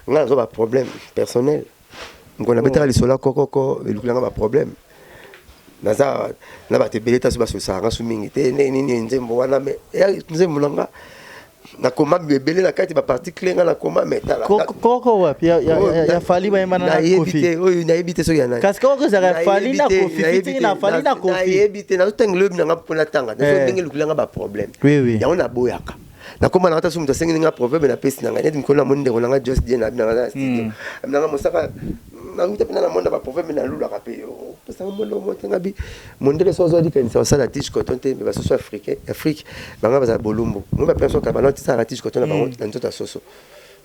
nga naza ba problème personnel mokona oh. betaka lisolo ya kokoko elukela nga ba problème naza na bato ebele taso basolisaka nga su mingi te ndenge nini nzembo wana me nzembo na nga nakoma ebele na kati bapartikle nga nakoma metalakoko wapi ya fali bayembana na kofi oyo nayebi te soki ya nani kasi koko ezaka ya fali na kofi fitiki na fali na kofi nayebi te nazotanga loyebi na nga mpo natanga eh. ndenge elukela nga baproblème yango naboyaka nakoma na ngata so moto asengeli nga proverbe na pesi na ngai neti mikolo na moni ndeko na ngai jos die na abi na ngai na studio hmm. abi na ngai mosaka nanguta mpe na namona baproverbe nalulaka mpe yo opesanga mondo motenga bi mondele so ozwadi kanisa osala tige coton te mpe basoso africain afrique banga bazala bolumbu moi bapesa kaka banao tisalaka tige coton na bango hmm. na nzoto ya soso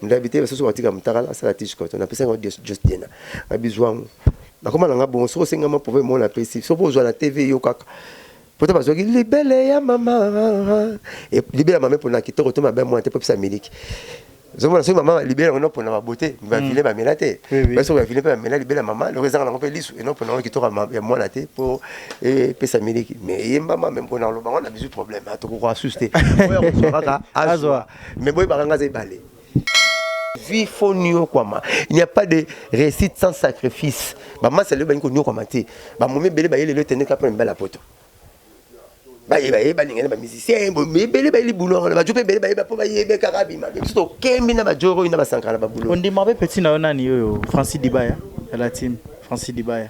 ndabi te basoso batika motakala asala tige coton napesanga ngo jos die na abi zwangu nakoma na ngai bongo soki osengama proverbe mona apesi soki ozwa na tv yo kaka Poto bazwaki libele ya mama e, libele ya mama epona kitoko to mabe mwana te mpo epesa miliki zomona soki mama libele yango nopona babo te bavile mm. bamela te ba soki bavile mpe bamela libele ya mama loko ezanga nango mpe lisu enopona yango kitoko ya mwana te mpo epesa miliki me eyembama me mpona koloba yango na bizu problème ah, tokokoka susu te oyo akozwa kaka azwa me boyebaka nga aza ebale vie faut niokwama il n'y a pas de réussite sans sacrifice bamasa lelo balingi koniokwama te bamomi ebele bayeli lelo etendeka mpo na mibala poto baye baye balingani bamusicien ebele bayeli bulongo na bajo mpe ebele bayeba mpo bayebe kaka bima biso tokembi na bajoro na basankala babulo ondima mpe peti na yo nani oyo francis dibaya la team francis dibaya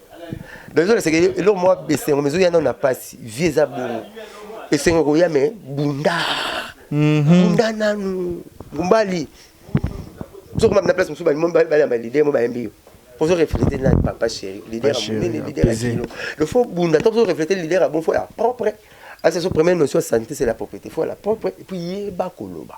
nazolesa eloko mwa esengo mezoya nano na mpasi vie eza bongo esengo koya me bunda mhm. bunda nanu ngumbali ozokoma na place mosusu balamba lider mo bayembi yo ozo reflete na papa chéri lider monene lider ya kilo il faut bunda to ozo reflete lider ya bon fo ya propre asa so première notion ya santé c'est la propriété fo ya la propre et puis yeba koloba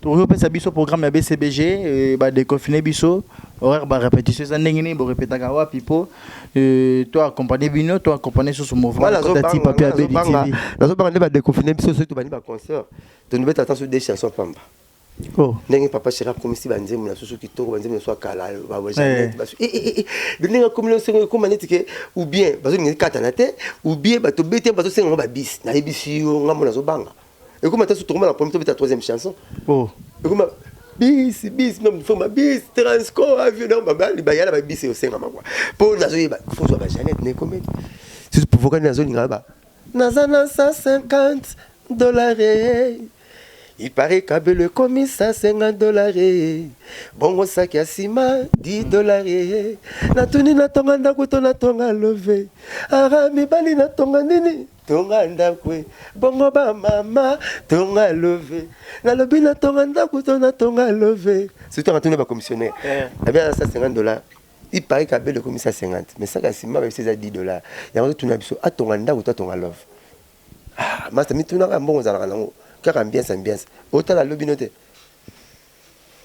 tozopesa biso programme ya bcbg euh, badeconfine biso horaire barépétition eza ndenge nini borepetaka wapi mpo euh, to accompagne bino to accompagne susu mouvmentati papi abeditv nazobanga nde badeconfine biso soki tobandi baconcert tonobeta ata so de chanson pamba oh. ndenge papa shera akomisi banzembo na susu kitoko banzembo na susu ya kala eh. eh, eh, ndenge akomi na sengo ekoma neti ke oubien bazolinga ekatana te oubien bato bete bazosenga ngo babisi nayebisi yo ngambo nazobanga ekoma ta sutokoma na premier tobeta troisième chanson oh. ekoma bis bis mfoma bis transco avion donc babali bayala babisi osengama kua mpo nazoyeba fozwa ba janete nekomeli susu provokani nazolinga ba naza na 150 dollars eh. il paraît kabelo ekomi 150 dollars eh. bongo saki ya nsima 10 dollars eh. natuni natonga ndako to natonga love ara mibali natonga nini tonga ndako e bongo ba mama tonga love nalobi na tonga ndako to na tonga love surtout anga tuna ba commissionnaire abi aza 150 dollars il paraît que abele ekomi 150 mais saka nsima bayebisi eza 10 dollars yango totuna biso atonga ndako to atonga love ah masta mitunaka mbongo ozalaka nango kaka ambiance ambiance otala lobi no te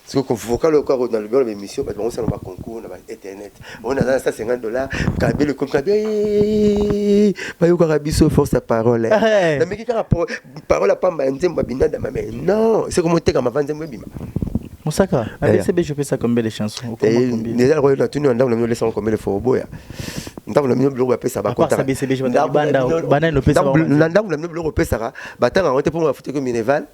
Siko ko vocal oyo kaka na lobi wana ba emission bato bango sala ba concours na ba internet on aza na 150 dollars kabila ekomi kabila bayokaka biso force ya parole na miki kaka parole ya pamba ya nzembo ya binada mame non siko moteka mava nzembo ebima mosaka abcb jopesa combien de chanson eza koyo na tuni na ndako na bino olesaka combien de fois oboya ndako na bino biloko bapesa bakotaka na ndako na bino biloko opesaka batanga yango te mpo bafutaki mineval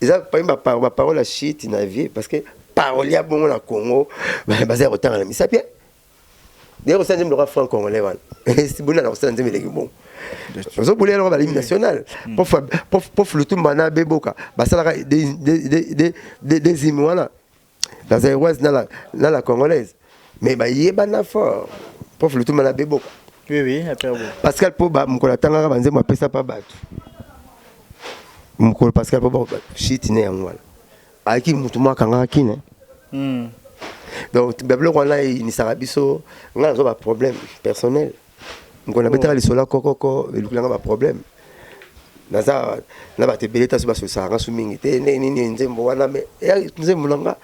eza parmi ba par ba parole ya shit na vie parce que parole ya bongo na Congo baza ya kotanga na misapi hein? de kosala nzembe lokola franc congolais wana bunda na kosala nzembe eleki bongo ozobulela yango balimi national mm. prof lutumba na beboka basalaka des hymne wana la zaïroise na la, na la congolaise mais bayebana fort prof lutuma na beboko oui, oui, pascal poba mokolo atangaka banzembo apesa mpa bato mokolo pascal poba shiti ne yango wana ayaki motu mwa akangaka kine hmm. donc babiloko wana eyinisaka biso ngai nazo baproblème personnel Mokolo nabetaka lisolo ya kokoko elukela nga ba problème naza na bato ebele ta so basolisaka nga so mingi te ndenge nini nzembo wana me nzembo na nga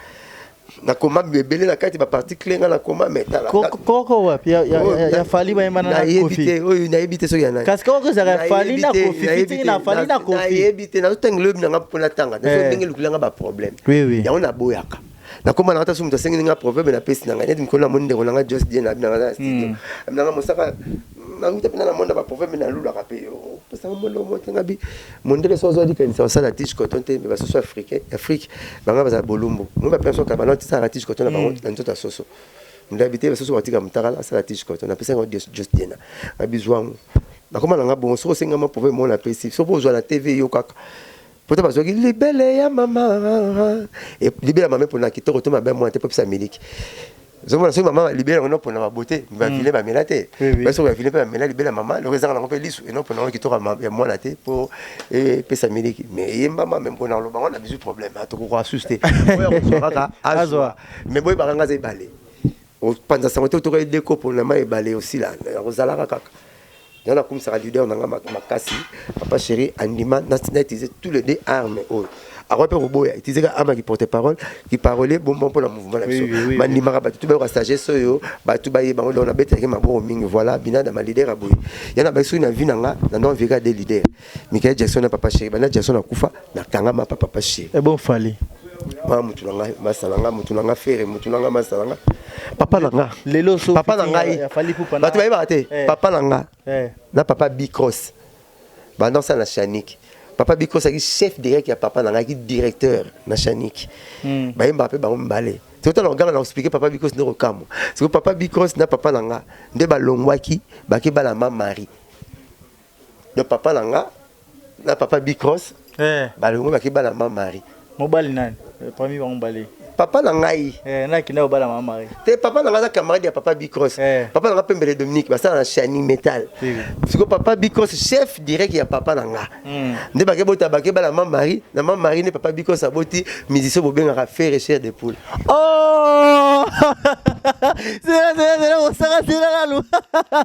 nakoma ebele na kati baparti cle nga nakoma metalakoko wapi ya fali bayembanayebi te oyo nayebi te soki yanakasi koko ezalaka fali na kofi fitiki na fali na kofi nayebi te nazotanga loyebi na nga mpo natanga nazo ndenge elukela nga baproblème yango naboyaka nakoma na ngata so moto asengeli nga proverbe na pesi na ngai neti mikolo na moni ndeko na ngai jos die na abi na ngai na studio hmm. abi na ngai mosaka nanguta mpe na namona baproverbe nalulaka mpe yo opesaka mondo moto ngabi mondele so ozwadi kanisa osala tige coton te mpe basoso africain afrique banga bazala bolumbu moi bapenso kabanoti salaka tige coton na bango hmm. na nzoto ya soso ndabi te basusu batika mutakala asala ti chikoto napesaki ngo just dena na bizwangu nakoma na nga bongo soki osengama pove mona apesi soki ozwa na tv yo kaka Poto bazwaki libele ya mama e, libele ya mama epona kitoko to mabe mwana te mpo epesa miliki zomona soki mama libele yango enopona babo te bavile mm. bamela te ba soki bavile mpe bamela libele ya mama loko ezanga nango mpe lisu enopona yango kitoko ya mwana te mpo epesa miliki me eyembama me mpona koloba yango na bizwi problème atokokoka susu te oyo akozwa kaka azwa me boyebaka nga aza ebale Opanza sango te otokaki de kopo na mai ebale osila nakozalaka kaka nga nakumisaka leader na nga makasi papa chéri andima na utiliser tous les deux armes oyo akoya mpe koboya utiliser ka arme ki porte parole ki parole bonbon mpo na mouvement na biso bandimaka bato tu bayoka sagesse oyo bato baye bango donc nabetaki maboko mingi voilà binada ma leader aboye yana baki soki na vie na nga na ndonga veka de leader Michael Jackson na papa chéri banda Jackson akufa na kanga ma papa papa chéri et eh bon fali ma mutu na ngai masala nga mutu na nga fere mutu na nga masala nga papa na nga lelo so papa na ngai bato bayebaka te eh. papa na nga eh. na papa bicross banda osala na chanique papa biko azalaki chef direct ya papa na ngai ki directeur na chanique hmm. bayembaka mpe bango mibale totala oganga na koexplike papa bikos nde kokamwa siko papa bikos na papa na nga nde balongwaki bake bana ma marie Donc papa na nga na papa Bicross eh. balongo baki bala ma Marie. Mobali nani? Eh, parmi bango mobali. Papa na ngai. Eh, na kinda obala ma Marie. Te papa na nga za camarade ya papa Bicross. Eh. Papa na nga Pembele Dominique basala na Shani Metal. Siko papa Bicross chef direct ya papa na nga. Mm. Nde bake bota bake bala ma Marie, na ma Marie ne papa Bicross aboti musicien bobengaka Ferre Cher de Poule. Oh! C'est là, c'est là, c'est là, on s'arrête là, là,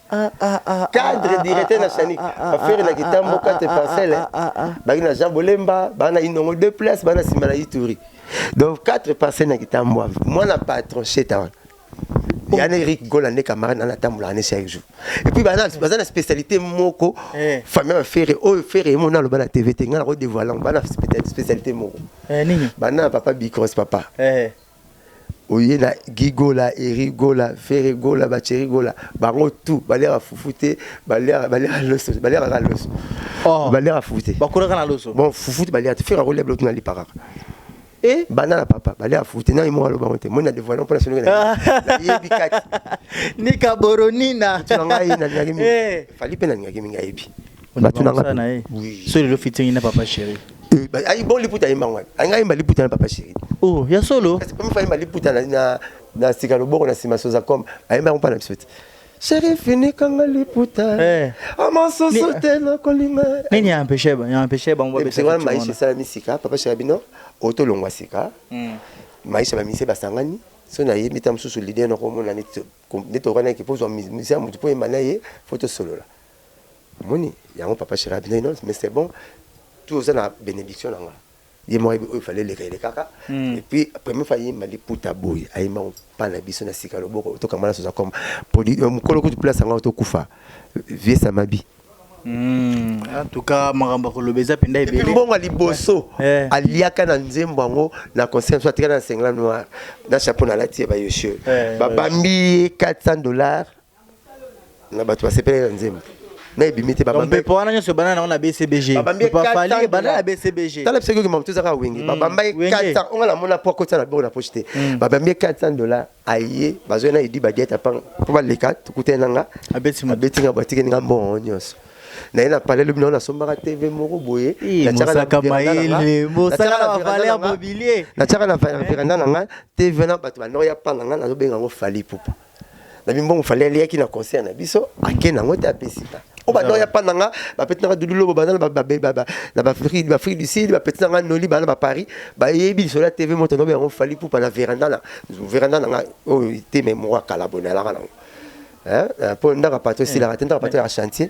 cadre directeur na sani affaire na kitambo 4 parcelle bangi na Jean Bolemba bana inongo deux places bana sima na Ituri donc 4 parcelle na kitambo mwana patron cheta wana yana Eric Gola nde camarade na natambola na chaque jour et puis bana baza na spécialité moko eh. famille ya Ferre oyo Ferre yemo na loba na TV te ngana ko dévoiler bana spécialité moko eh, nini bana papa Bicros papa eh. Oye na Guy Gola, Eric Gola, Ferre Gola, ba Thierry Gola, bango tout baliaka fufu te, baliaka baliaka loso, baliaka kaka loso. Oh. Baliaka fufu te. Bakolaka na loso. Bon, fufu te baliaka te. Ferre akolia biloko tuna lipa kaka. Eh? Banda na papa, baliaka fufu te. Nani moko aloba yango te. Moi na devoile mpo na solo na nayebi kati. Nika boronina. Tuna ngai nalingaki mingi. Eh. Fally mpe nalingaki mingi ayebi. batu na nga na ye so lelo fitting na papa chéri eh, ayi bon liputa yemba ngwana ayi ngai yemba liputa na papa chéri oh ya solo kasi pami fa yemba liputa na na na sika loboko na sima soza comme ayemba kompa na biso te chéri fini kanga liputa eh ama soso te na kolinga nini ya empêche ba ya empêche ba ngwa besa ngwana maisha sala misika papa chéri bino oto longwa sika hmm. maisha ba mise basangani so na ye mita mususu leader na komona neti neti okana ki pozo misa mutu po yemba na ye faut tosolola Omoni yango papa Chira abinaki non mais c'est bon tout oza na benediction na nga ye moko ayebi oyo fale eleka elekaka mm. et puis premier fois ayemba liputa boye ayemba mpa na biso na sika loboko tokamba naso zakoma produit euh, mokolo kutu place yango tokufa vie samabi Hmm. en tout cas makambo akoloba eza mpenza ebele mbongo ya liboso eh. aliaka na nzembo yango na concert so atikala na sengla noir na chapeau nalati ye bayoshe eh, babambi ye 400 dollars na bato basepelaki na nzembo na ebimi te babambi mpepo wana nyonso ebanda nango na bcbg babambi ye Papa Fally 400 ebanda na dollars. bcbg tala biso yoki mamutu ezaka wenge Mm, babamba ye Wenge. 400 onga namona po akotisa na boko na poche te Mm. babambi ye 400 dollars aye bazwa ye na edi badiete apanga po baleka tokutani na nga abeti moto abeti nga batikeli nga mbongo yango nyonso naye na palais lobi nango nasombaka tv moko boye Ih, natiaka na mosaka veranda na nga- mayele mosaka natiaka na na veranda valeur na nga- mobilier natiaka na va- veranda na nga tv na bato bandoya panga nga nazobenga yango fali pupa na bimbongo fale aliyaki na concert na biso ake nango te apesi nga o banda oya pa na nga bapeti nanga dudu lobo banda na bafrike du sud bapeti nanga noli bana ba paris bayebi lisolo ya tv moto nobe yango fali pupa na veranda na veranda na nga oyo te me moko ya kala boye nalaka nango mpo ndaka pato esilaka te ndaka pato ya chantier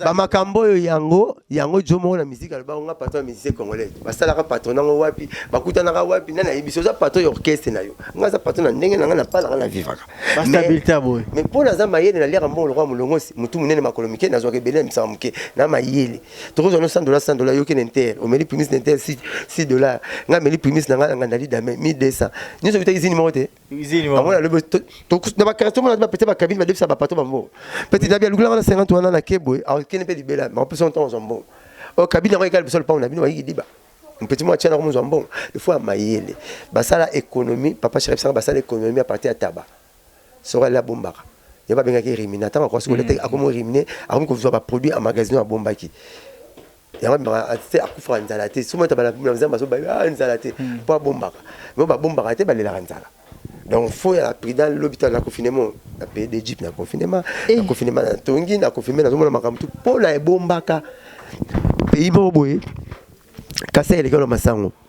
bamakambo oyo yango yango jo moko na miziki alobaka nga patron ya musicien congolais basalaka patron nango wapi bakutanaka wapi nani ayebisi oza patron ya orchestre na yo nga aza patron na ndenge na nga napalaka na vivaka mais mpo naza mayele naliaka mbongo lokola molongosi motu monene makolo mike nazwaka ebele na misaka moke na mayele toko zwa no 100 dollars 100 dollars yoki na inter omeli primis na inter 6 6 dollars nga meli primis na nga na ngandali dame 1200 nyoso bita izini moko te izini moko amona lobo to na ba carte mona ba pete ba cabine ba debisa ba pato bambo pete dabi alukula nga na 50 wana na kebwe a kene pe libela ma pesa on temps zombo o cabine yango ekali bisol pauna bino bayiki diba mpeti mwa tiana ko mozwa mbongo il faut amayele basala économie papa chéri bisanga basala économie à partir ya tabac Soki alie abombaka yango babengaki rimina ntango akosi kolia te akomi rimine akomi kozwa baproduit a magasino oyo abombaki yango abimaka te akufaka nzala te soki mata bana nzambe bazoba nzala te mpo abombaka mo babombaka te balelaka nzala donc fo ya prudent lobi to na confinement na pays d'Egypte na confinement na confinement na tongi na confinement nazomona makambo tu mpo na ebombaka pays moko boye kasi elekelo masango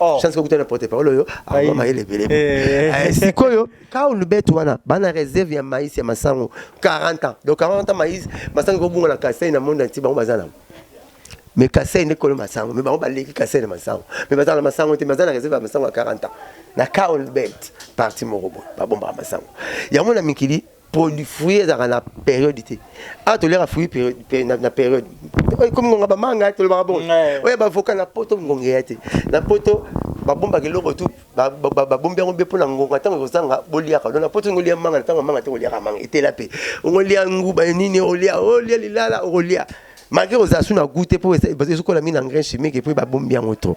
Oh. chance kokuta na porte parole oyo awa mayele ebele eh. eh, sikoyo kaulu bete wana bana reserve ya maïs ya masango 40 ans donc 40 ans maïs masango ekobunga na kasai na monde anti bango baza nango mais kasai nde kolo masango mais bango baleki kasai na masango mais baza na masango te baza na reserve ya masango ya 40 ans na kaulu bete parti moko boye babombaka masango yango na mikili produit fruit ezalaka na période te awa toliaka fruit na période oyo ekomi ngonga bamanga tolobaka bongo oyo bavoka na poto ngonga eya te na poto babombaka eloko tu babombi yango mpe mpo na ngonga ntango ekozanga boliaka lona mpo tongo olia manga na ntango manga te koliaka manga etela mpe ongolia nguba nini olia olia lilala okolia malgre kozala su na goût te mpo ezokola mingi na engrais chimique mpe babombi yango to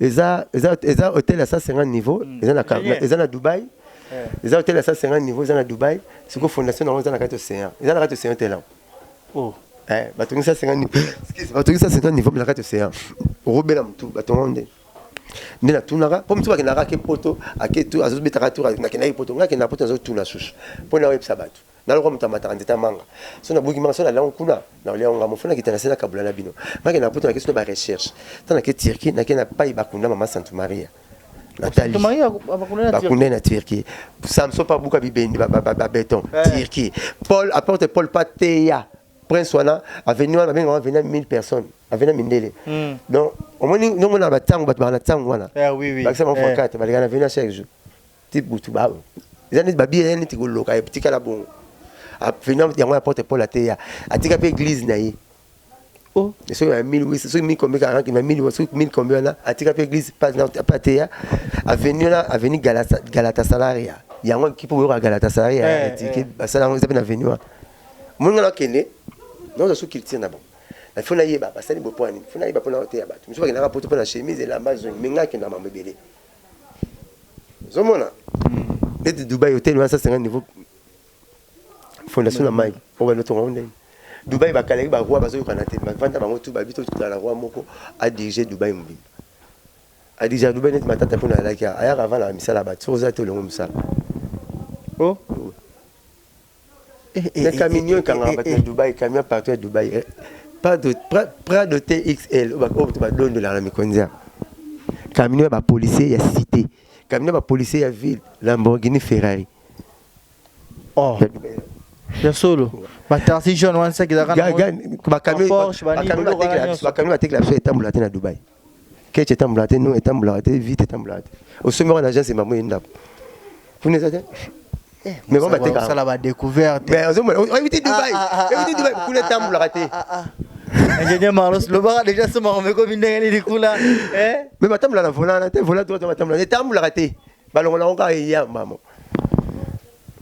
Eza eza eza hotel ya 150 niveau mm. eza na yeah. eza na Dubaï. Yeah. Eza hotel ya 150 niveau eza na Dubaï. Siko fondation na eza na kati océan. Eza na kati océan hotel là. Oh. Eh batongi 150 niveau. Excuse, batongi 150 niveau na kati océan. Robela mtu batongo nde. Nde na tunaka, po mtu bakendaka ke poto, ake tu azobetaka tu na kendaki poto, ngaki na poto azotuna susu. Po na webisa batu. Nga lokola moto amataka nzete ya manga, soki nabuki manga, soki nalia yango kuna, nakolia yango nga moko. Faut nakita na se nakabula na bino. Nga kenda na poto nake sino ba recherche. Tango nake Turquie, nake na pai bakunda mama Santu Maria. Natali. Santu Maria bakunda na Turquie. Bakunda na Turquie. Samson pa buka bibendi ba, ba, ba, ba beton. Eh. Turquie. Paul apporte Paul pa teya. Prince wana avenue wana babenga wana avenue 1000 personnes, avenue mindele. Mm. Donc omoni ndongo na batango bato bana tango wana. Eh oui oui. Bakisa mwa eh. 4 baleka na avenue chaque jour. ti butu ba eza neti babia ya neti koloka etikala bongo afina yango ya porte paul ateya atika mpe eglise na ye o soki ya 1800 soki mikombe kaka na 1800 soki mikombe wana atika mpe eglise mpe ateya aveni wana aveni galatasalaria yango ekipe oyoka galatasalaria eh, eh, etike eh. basala yango eza mpe na aveni wana omoni nga nakende naoza su culture na bango na fo nayeba basali bopo ya nini fo nayeba mpo na oteya bato mosusu bakendaka poto mpo na chemise elamba zongi me ngai akenda mambo ebele ozomona neti dubai hotel wana sasenga niveau fondation na mai obanda otonga ngo ndenge dubai bakalaki baroi bazoyokana te bavanda bango tu babi totala na roi moko adirige dubai mobimba adirige dubai neti matata mpona alaki ayaka avanda na misala ya bato soki oza te olongo mosala o oh. Mais camion ekangaka bato ya Dubaï, camion partout ya Dubaï. Eh. Prado, Prado TXL, oyo bato badondolaka na mikonzi ya camion ya bapolisier ya cité, camion ya bapolisier ya ville, Lamborghini Ferrari. Oh. Ya solo. Ba taxi jaune wana saki ezalaka na ba camion batekela biso etambolaka te na Dubaï. Ketch etambola te, no etambolaka te, vite etambolaka te. Osombi yango na agence emamo ye ndako. Kuna eza te. Eh, mais ba bateka. Osala ba découverte. Mais ozo mona, oyebiti Dubaï. Ah, ah, ah, oyebiti Dubaï kuna etambolaka te. Ingénieur Maros lobaka déjà soma omekomi ndenge nini kuna. Eh? Mais batambola na volant na te, volant droit batambola. Etambolaka te. Balongola ngo kaka eyamba mo.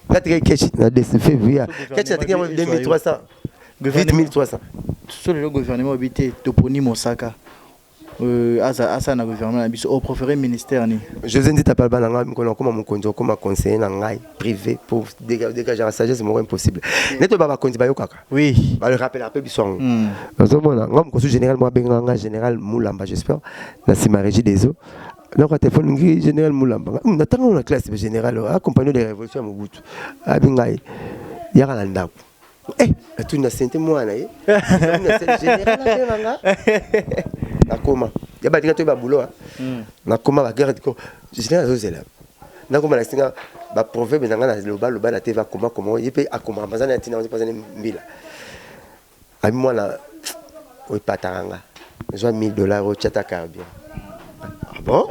Patrick Keshi na DCV via Keshi na tikama 2300 vite 1300 solo le gouvernement obité toponi mosaka euh, aza asa na gouvernement na biso au préféré ministère ni José Ndita palba na ngai mkono koma mokonzi okoma conseiller na ngai privé pour dégager la sagesse moko impossible neto ba bakonzi bayokaka oui ba le rappeler un peu biso yango hmm. ozomona ngai mokosu général moi benga ngai général Mulamba j'espère na sima régie des eaux naka telefone ngi général mulamba hmm, na ntango na classe général oh, accompagné de la révolution ya mobutu abi ngai yaka na ndako eh, atuni na sente mwana ye nakoma ya batika toyeba bulo ah. hmm. nakoma bagarde ko général azozela nakoma na singa baproverbe na ngai na lobaloba na te vakoma koma ye mpe akomaka bazana ya ntina mpazani mbila Abi mwana oepataka nga zwa 1000 dollars otia ata carburant ah bon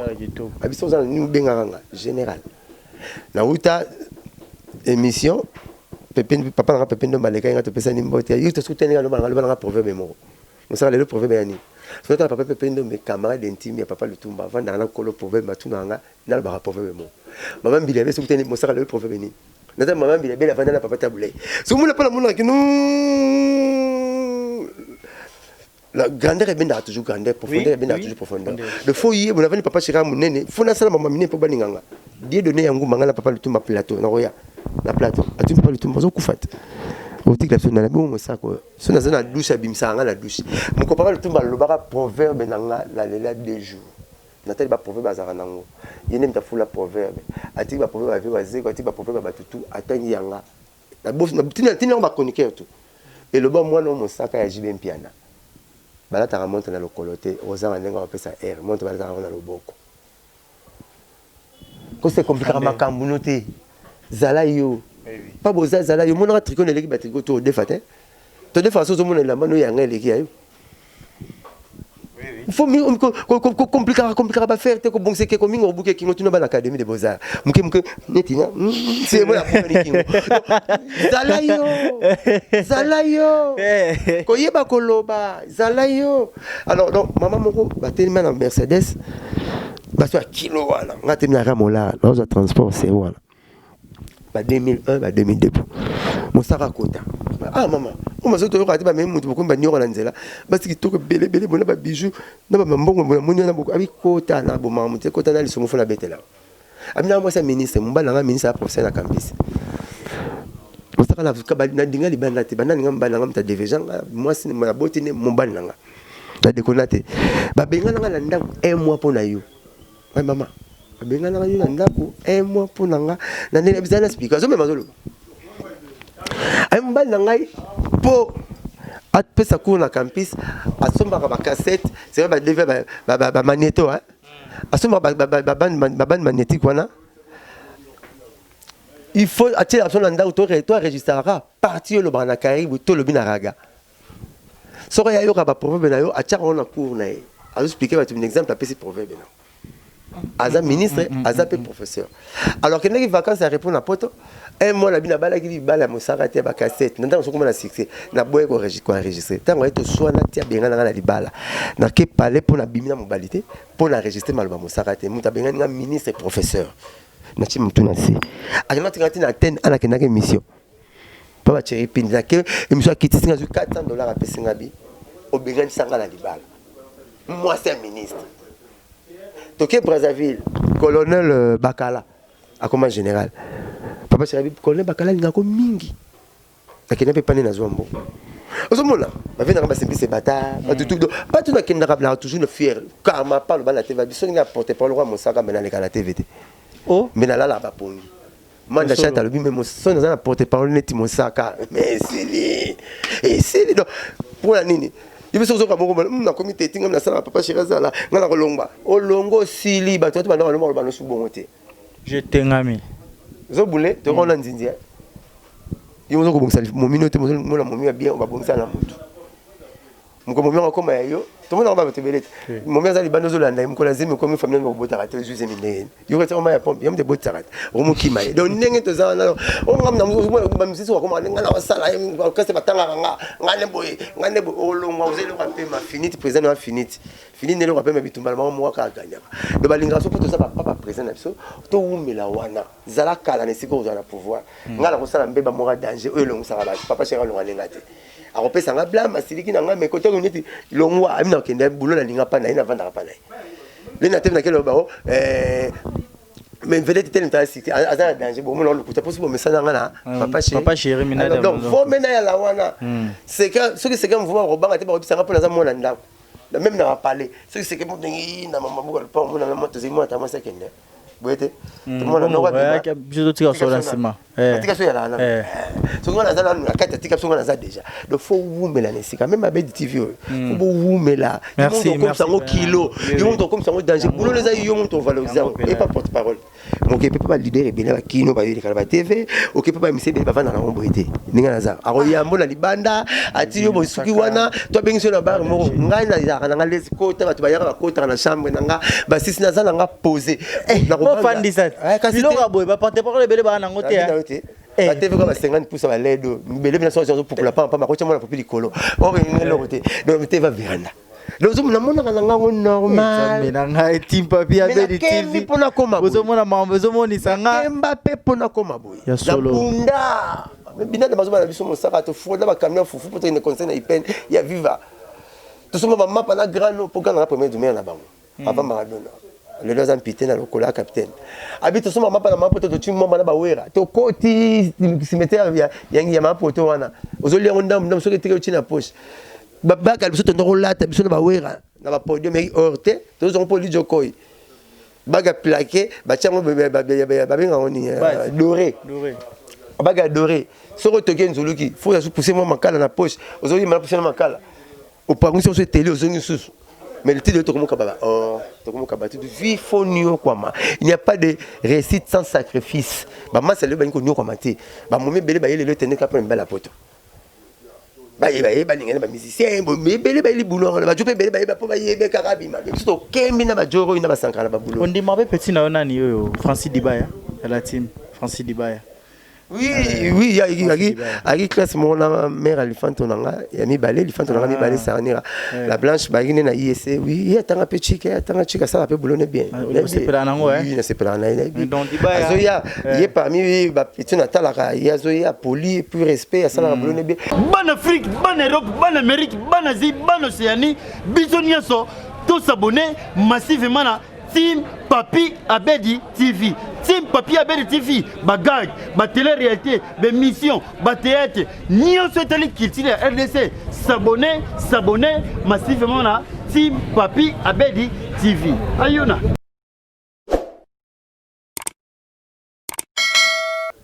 abi soki oza na nini obengaka nga général nawuta émission pepe papa nanga pepe ndomba alekaki nga topesani mbote yo tosukutani nga loba nanga loba nanga proverbe moko mosaka lelo proverbe ya nini sotala papa pepe ndombe camarade intime ya papa lutumba avandaka na kolo proverbe matunaka nga nalobaka proverbe moko mama mbili abe sukutani mosaka lelo proverbe nini naza mama mbila bela vanda na papa tabule sokomona mpona monaka kino la grandeur ebendaka toujours grandeur profondeur ebendaka toujours profondeur le fo ye bona vandi papa shekara monene fo nasala mama minene mpo balinganga die donne ya ngumba ngai na papa lutumba plateau nakoya na plateau atuni papa lutumba azokufa te otikela biso nana bongo mosaka oyo so naza na dushe abimisaka ngai na dushe moko papa lutumba alobaka proverbe na ngai nalela deux jours Natali ba proverbe azalaka nango ye nde mutu afula proverbe atiki ba proverbe ya vieux wazekwa atiki ba proverbe ya batu tout atangi yanga nabosi natindi yango ba chroniqueur tout eloba muana oyo mosaka ya JB mpiana balataka montre na lokolo te okozanga ndenge ya kopesa heure montre balataka yango na loboko kose complikaka makambu no te zala yo pa boza zala yo omonaka tricot na eleki ba tricot to odefa te todefaka so ozomona elamba no yanga eleki ya yo fo komplikaka komplikaka bafere te kobongisa eke kominga kobuka ekingo tino bana académie de beaux-arts moke moke neti na sebo ya ekingo zala yo zala yo koyeba koloba zala yo alors donc mama moko batelema na mercedes baso ya kilo wana nga telemi na ramola nazwa transport se wana ba 2001 ba 2002 po mosaka akota ah mama oyo mazoto oyoka te bamemi moto bokomi banioko na nzela basi kitoko ebele ebele bona ba bijou na bambongo bona moni wana boko abi kota na bomaka moto ekota na lisongo fona betela abi na mwasi ya ministre mobali na ngai ministre ya professeur na campus mosaka na nadinga libanda te banda ninga mobali na ngai moto adeveja nga mwasi naboti nde mobali na ngai nadekona te babengana ngai na ndako un mois mpo na yo Ouais maman, abenganaka yo na ndako un mois mpo na nga na ndenge bizali na speaker azomema azoloba aye mobali na ngai mpo apesa cour na campus asombaka bacassette seka badeve bamagneto asombaka babande magnétique wana il faut atiela biso na ndako to enregistraka parti olobaka na karibu tolobi na raga Soko ya yoka ba proverbe na yo atiaka wana cours na ye. Azo expliquer bato min exemple apesi proverbe na. Aza ministre, mm, mm, aza pe mm, professeur. Alors kendaki vacances ya repos na poto, un mois na bina balaki libala mosaka te ba cassette. Na ntango sokoma na succès, na boye ko ko enregistrer. Ntango ayeto swana tia benga na na libala. Na ke palais pona bimina mobalite, pona enregistrer maloba mosaka te. Muta benga nga ministre professeur. Na chimutuna si. Akenda tingati na Athènes, ana kendaki mission. Papa Thierry Pindi, na ke emission ya kitisi nga zwi 400 dollars apesi nga bi obengani sanga na libala mwasi ya ministre toke Brazzaville colonel euh, Bakala akoma général papa Thierry Pindi colonel Bakala alinga ko mingi nakenda mpe pane nazwa mbo ozomona bavendaka basimbise bata batutudo mm. bato nakendaka na toujours na fiere karma palo bana te babiso ndenge ya porte parole kwa mosaka me naleka na tv te oh. me nalalaka bapongi Manda chat alobi mais mosoni aza na porte parole neti mosaka mais esili esili donc mpo na nini yo biso ozoka moko hmm, nakomi te etinga nasala papa sheri azala ngai nakolongba olongo osili bato bato banda balomba loba nosu bongo te je tengami zobule tokona hmm. nzinzi eh? yo ozo kobongisa momino te mozomona momi ya bien obabongisa na motu Moko momi yango koma ya yo. Tomo na bato ebele te. Hmm. Momi aza libanda ozo landa mokolo azemi komi famille ko botaka te zuze mindeye. Yo kati oma ya pompe, yamde botaka te. Omo kima ye. Donc ndenge to za na o ngam na musu bo ba musisi wa koma nga na wasala ye ko kase batanga nga. Nga ne boye, nga ne bo olongwa ozo eloko mpe ma finite présent na finite. Fini ne eloko mpe ma bitumba bango mwa ka ganyaka. Donc balinga so poto za ba papa présent na biso to wumela wana. Zala kala na esiko ozala pouvoir. Hmm. Nga na kosala mbe ba mwa danger oyo elongisaka ba papa cheka longa lenga te. akopesa nga blame asiliki na nga mais kote ko neti longwa ami na kende boulot na linga pa na ye na vanda pa na ye le na tebe na kelo ba o eh mais vedette telle ta siki aza na danger bon mona lokuta posi bo mesana nga na ah, papa chéri papa chéri mina ah, donc vo mena ya la wana hmm. c'est que ce que c'est que mouvement ko banga te ba ko pisanga pona za mona ndako na même na ba parler ce que c'est que mo dengi na mama buka pa mona na moto zimo ta mo sekende boye te tomona noko biso totika biso na nsima atika so ya lala soki wana aza nanu na kati atika biso wana aza deja donc fo wumela na esika meme abedi tv oyo fo bowumela yomoto okomisa yango kilo yomoto okomisa yango danger bulolo eza yo moto ovalorise yango epa porte parole moke mpe mpe balider ebele bakino bayolekala ba tv oke mpe bamisi ebele bavanda na yango boye te ndenge naza akoyambo na libanda ati yo bosuki wana to abengisi na bar moko ngai nazalaka nanga lesi kota bato bayaka bakotaka na chambre na nga basisi naza na nga pose eh, nakofandisabilo ya boye baparte parole ebele baa nango te eh. bateveka ba 50 pusa baledo bele bina soki azopupula pampa makotia mwana popi likolo oyo oh, eloko te donc teva veranda namonaka na ngango normalme na ngai timpapi abedi tv mpona koma ozomona mambo ezomonisa nga kemba mpe mpona koma boye ya solo Binada bazoba na biso mosaka to fraude na ba camion fufu pour une conseil na IPN ya viva. Tout suma ba mapa na grand no pour ganga premier du maire na bango. Hmm. Avant Maradona. lelo aza mpite na lokola capitaine abi tosomba mapa na mapoto totyi mwamba na bawera tokoti cimetière ya, ya, ya mapoto wana ozolia yango ndambu ndambu soki etike otyi na poche babaka biso tonda kolata biso na bawera na bapodium ya orte tozozango mpo lidjokoi bague ya plaqué batia yango babenga yango nini euh, doré bague ya doré soki otoki enzuluki fo oya pousse mwa makala na poche ozongi mala pousse na makala opangwisi oso eteli ozongi susu mais le titre tokomoka baba oh tokomoka batu vie fo niokwama il n'y a pas de réussite sans sacrifice bamasa lelo balingi koniokwama te bamomi ebele bayelelo etendeka mpo na mibala poto bayeba ye balinga na bamusicien ebele bayeli buloro na bajo mpe ebele bayeba mpo bayebe kaka abima biso tokembi na bajoro oyo na basankara na babuloro ondima mpe petit na yo nani oyo francis dibaya ya la team francis dibaya oui euh, oui yaki ayaki classe moko na mère alifanto na nga ya mibale lifanto na nga ah. mibale sarnira la blanche bayaki nde na ise oui ye atanga mpe chike atanga chike asala mpe bulone bien ah, nasepelaka na ye azoya ye parmi ba petit na talaka ye azo ye poli plus respect asalaka hmm. bolone bien bana afrique bana europe bana amérique bana asie bana océanie biso nyonso to s'abonner massivement na team papi abedi tv team papi abedi tv bagag batele réalité baémission bathéâtre nyonso etali culture ya rdc s'abonner s'abonner massivement na team papi abedi tv ayona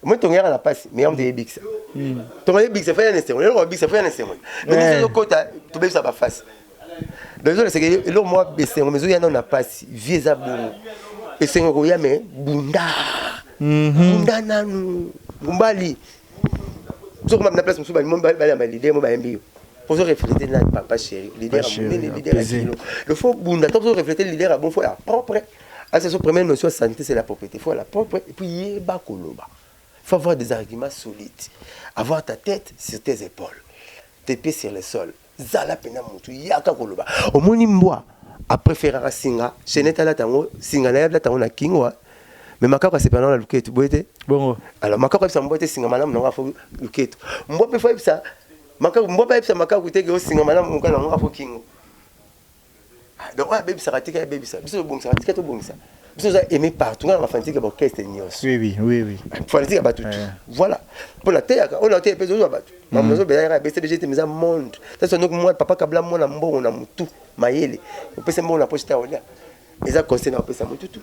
moi tongeyaka na mpasi mais yango toyebikisa tongayebikisa faya na esengo lelo kobikisa faya na esengo mais ezokota tobebisa bafasi donc ezoleseke eloko mwa esengo mais ezoya nao na mpasi vie eza bongo esengo ekoya me bunda mhm. bunda nanu mombali sokoma na place mosusu baliyamba lider mo bayembi yo ozo refléter nani papa chéri lider ya monene lider ya kilo il faut bunda to ozo refléter lider ya bon fo ya propre Asa son première notion ya santé c'est la propriété. Il faut la propre et puis yeba koloba. Il faut avoir des arguments solides. Avoir ta tête sur tes épaules. Tes pieds sur le sol. Zala pena mutu yaka koloba. Omoni mbwa a préférera singa, chaînette ala tango, singa na yabla tango na kingwa. Mais makako asepela na luketu boye te. Bongo. Alors makako ebisa mbwa te singa malamu nango afo luketu. Mbwa pe fo ebisa makako mbwa pe ebisa makako te ke osinga malamu mukana nango afo kingo. Ah, donc oyo abebisaka tika abebisa biso tobongisaka tika tobongisa biso oza aimé partout ngai na bafanitique ya baorchestre nyonso oui oui oui oui fanitique ya bato tu voilà mpo nateyaka oyo nateya mpe zozwa bato mm. mamu nazobela yaka ebese bege te miza monde sasa noki mwa papa kabla mwana mbongo na motu mayele opesa mbongo na poche ta olia eza conseil na opesa motu tu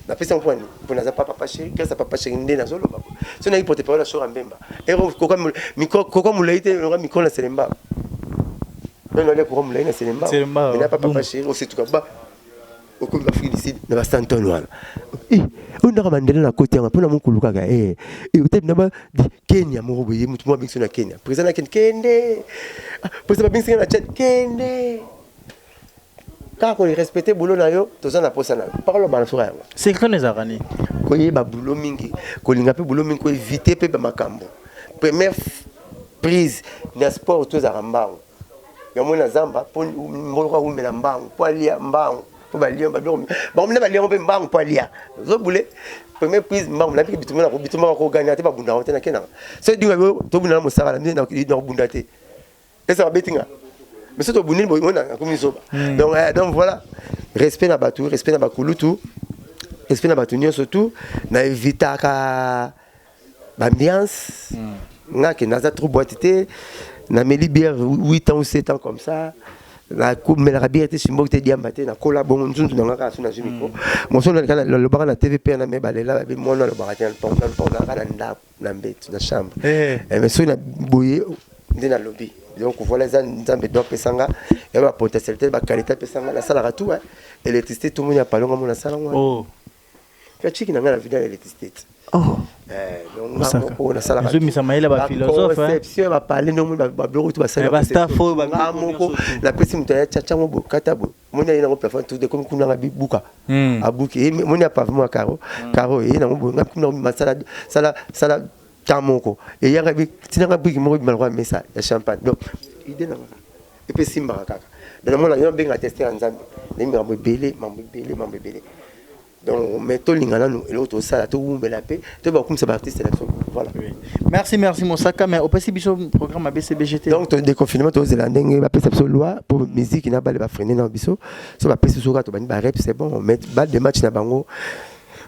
Na pesa mpo nini? Mpo naza papa papa chéri, grâce à papa chéri nde nazo loba ko. So na porte parole ya Shora Mbemba. Ero koka micro koka mulai te longa micro na Selemba. Non non le koka mulai na Selemba. Selemba. Na papa papa chéri ose tuka ba. Okomi ba Afrique du Sud na ba Santon wana. Eh, oyo ndaka Mandela na koti yango mpo na mokulu kaka eh. Eh, otebi na ba di Kenya moko boye mutu mwa bingso na Kenya. Président na Kenya kende. Ah, président ba bingso na Tchad kende. kaka ko respecter boulot na yo toza na posa na yo parole ba nasuka yango secret ne zaka ni ko yeba boulot mingi ko linga pe boulot mingi ko éviter pe ba makambo première prise na sport to za mbango ya mona zamba po mbolo ka wumela mbango po alia mbango po ba lion ba domi ba mona ba lion pe mbango po alia zo boule première prise mbango na biki bitumela ko bitumela ko gagner te ba bunda te na kena so dinga yo to bunda na mosala na na bunda te Est-ce que abeti nga? Mais surtout bunini boy mona akomi zoba. Hmm. Donc eh, donc voilà. Respect na batu, respect na bakulutu. Respect na batu nyonso tout na evitaka ambiance. Hmm. Nga ke naza trop boite te. Na meli bière 8 ans ou 7 ans comme ça. nakomelaka biere te simboki te diamba te nakola bongo nzunzu nanga kaka so nazwi mikro moso lobaka na tv mpe na me balela babi mwana alobaka te nalobaka na ndako na mbetu na chambre eh. eh, mais soki na boye nde nalobi donc voilà eza nzambe do apesa nga ya bapotentialité bakalite apesa nga nasalaka tout hein. électricité tout moni ya palonga mona asala ngo oh. mpe aciki na ngai na vida ya électricité te oh. eh, ezomisa mayele baphilosopheconception ya bapale ndenge moni babiloko tu basaliamoko napesi moto ya caca yango bokata boye moni aye nango plafond tout ekomi kuna nga bibuka hmm. abuki ye moni ya pavement ya caro hmm. caro eye nango boye nga bikumi nango bima sala sala sala temps moko eye nga bi tina nga biki moko bima lokola mesa ya champagne donc idée na nga epe simbaka kaka donc namona yo benga tester ya nzambe nayembaka mambo ebele mambo ebele mambo ebele Donc, mais to linga nanu eloko to sala to wumbela pe to ba kumisa ba artistes na biso. Voilà. Merci merci Mosaka mais opesi biso programme ya BCBGT. Donc to déconfinement to zela ndenge ba pesa biso loi pour musique na bale ba freiner na biso. So ba pesa soka to bani ba rep c'est bon on met balle de match na bango.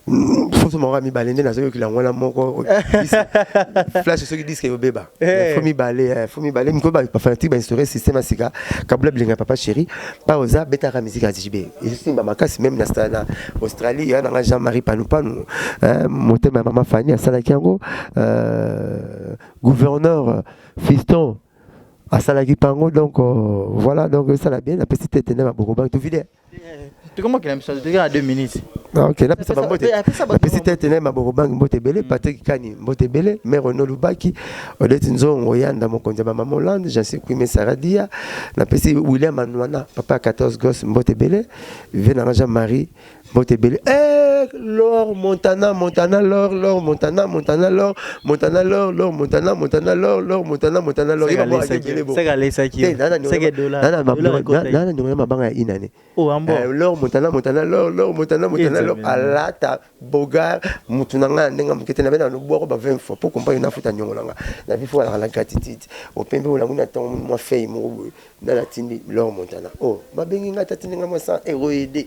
Fonso moko ya mibale nde nazoyokela yango wana moko Dis- flash soki diske ebeba Eh. fo mibale eh, fo mibale miko bafanatike bainstaure système ya sika kabula bilenga papa chéri mpa oza betaka miziki ya jb ezosimba makasi meme na sta na australie ya nanga jean marie panupanu eh, motema ya mama fani asalaki yango euh, gouverneur fiston asalaki mpango donc euh, voilà donc esala bien napesi tete nde maboko bangi tovide tokomokela biso toza na 2 minutes ah, ok napesa bambote napesi tete naye mabokobangi mbote ebele mm. patrik kani mbote ebele mare ono lubaki odeti nzongo yanda mokonzi ya bamama hollande jansi kuime saradia napesi william anwana papa ya 14 gos mbote ebele vie nanga jean marie mbote ebele eh, lor montana montana lor lor montana montana lor Montana l'or l'or Montana Montana l'or l'or Montana Montana l'or yeba mwa ake bele bo seka lesa ki nana seka dollar nana mabanga nana ndongo ya mabanga ya inane oh ambo eh, l'or Montana Montana l'or l'or Montana Montana l'or alata bogar mutu na ngai ndenge mokete na bena lobwa ko ba 20 fois pour comprendre na futa nyongo nanga na bifo ala la gratitude opembe olangu na tango mwa fei moko boye nana tindi l'or Montana oh babengi ngai tata ndenge mwa sa eroide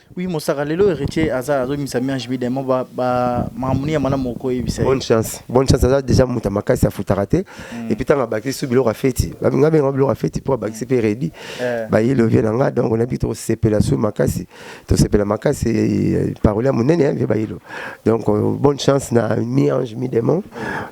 Oui mosaka lelo heritier aza azo misa mi HB Diamond ba ba mamuni ya mana moko yebisa. Bonne chance. Bonne chance aza déjà muta makasi ya futaka te. Mm. Et puis tanga bakisi su biloko afeti. Ba binga benga biloko afeti pour bakisi pe ready. Eh. Ba yelo vie na nga donc on a bito sepela su makasi. To sepela makasi eh, parole ya munene hein, vie ba yelo. Donc euh, bonne chance na mi ange mi démon.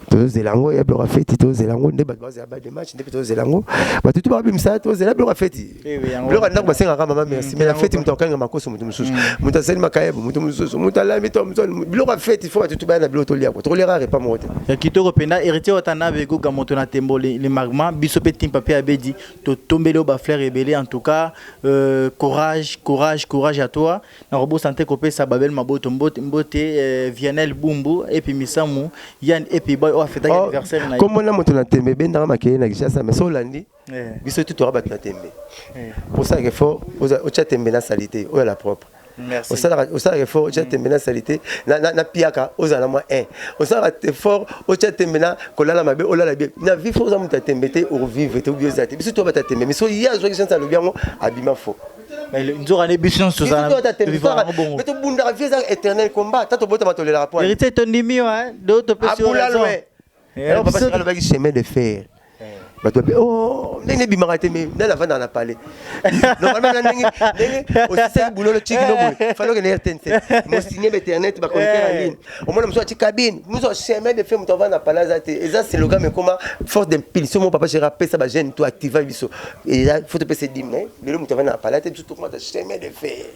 To zelango ya biloko afeti to zelango nde ba ba ba match nde to zelango. Ba tutu ba bimisa to zelango biloko afeti. biloko ya ndako basengaka mama merci mm, mais na feti moto akokanga makoso moto mosusu mm. moto asali makayebo moto mosusu moto alami to moto biloko ya feti fo bato tobaya na biloko tolia ko tokoliaka repas moko te ya kitoko mpenza héritier watanabe egoga moto na tembo le magma biso mpe timpa mpe abedi totombeli yo bafleur ebele en tout cas euh, courage courage courage à toi nakobosa nte kopesa babel maboto mbote, mbote euh, vianel bumbu epi misamu yan epi boy oyo afetaki oh, anniversaire na ye kombo na moto na tembe ebendaka makeye na kishasa mais so olandi Eh. biso tout toza bato ya tembe eh. osalaka effort otya tembe na salite oyo la propre osalaka effort otya mm. tembe na salite na piaka ozala na mwa 1 osalaka effort otya tembe na kolala mabe olala bien na vie fo oza moto ya tembe te ovive te obi oza te biso toza bato ya tembe mais so ye azwaki sense alobi yango abima fo nzoka nde biso nyonso tozalame tobundaka vie eza éternel combat ta tobotama tolelaka poheritier tondimi yo do topesi yo raison Eh, papa sika alobaki chemin de fer bato babe o oh, ndenge ebimaka te me nani avandaka na palais normalement ndenge ndenge osisaki bulolo tiki no boye fali okende rtnc mosigne bainternet baconnecter na eh. ligne omona mosusu ati cabine mosusu achemin de fe moto avanda na palais aza te eza seloga me koma force d'impulsion mo papa gera apesa bajeune to activa biso eza fo topesa edime lelo moto avanda na palais te biso tokomata chemin de fer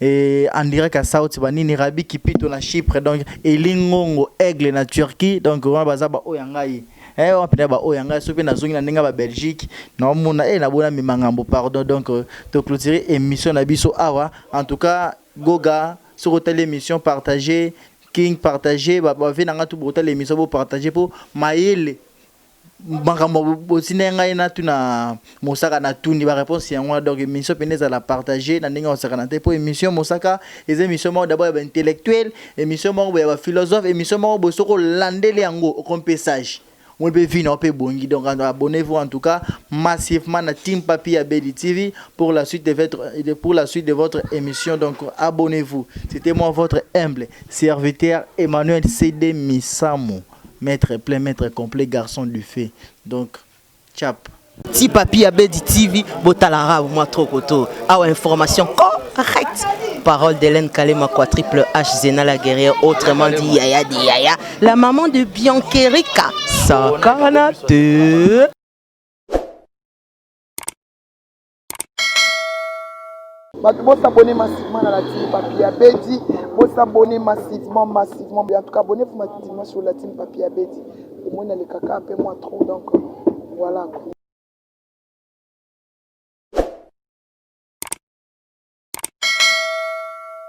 Et on dirait qu'à South Banini, Rabi Kipito na Chypre, donc Elingongo, Aigle na Turquie, donc on baza ba oyangai. Eh, on pina ba oyangai, sopi na zongi na ninga ba Belgique, na omona, eh, na bona mi mangambo, pardon, donc euh, to clôturer émission na biso awa. En tout cas, Goga, sur telle émission, partagez, King, partagez, ba, ba, venanga tout, bo telle émission, bo partagez, po, maele, makambo otindaki ngai natuna mosaka natuni bareponse yango wana donc émission mpena ezala partage na ndenge ya kosakana te mpo émission mosaka eza émission moko dabord ya baintellectuel émission moko boye ya baphilosophe émission moko boye soki olandeli yango okomi mpe sage moi mpe vi nao mpe ebongi donc abonnez vous en tout cas massivement na team papi ya beli tv pour la suite de votre, de- pour la suite de votre émission donc abonnez vous c'était moi votre humble serviteur emmanuel cd misamu Maitre plein maitre complet garçon du feu donc chape. Ti papi ya bedi TV botala rab mwa trop koto awa information ko Arrête Parole d'Hélène Kalema quoi triple H Zena la guerrière autrement dit Yaya de Yaya la maman de Biancherika Sakanate bato bosabone massivement na la team papi ya bedi bosabone massivement massivement en tout cas abonne vous massivement sur la team papi ya bedi omoni alekaka mpe mwa trop donc voilà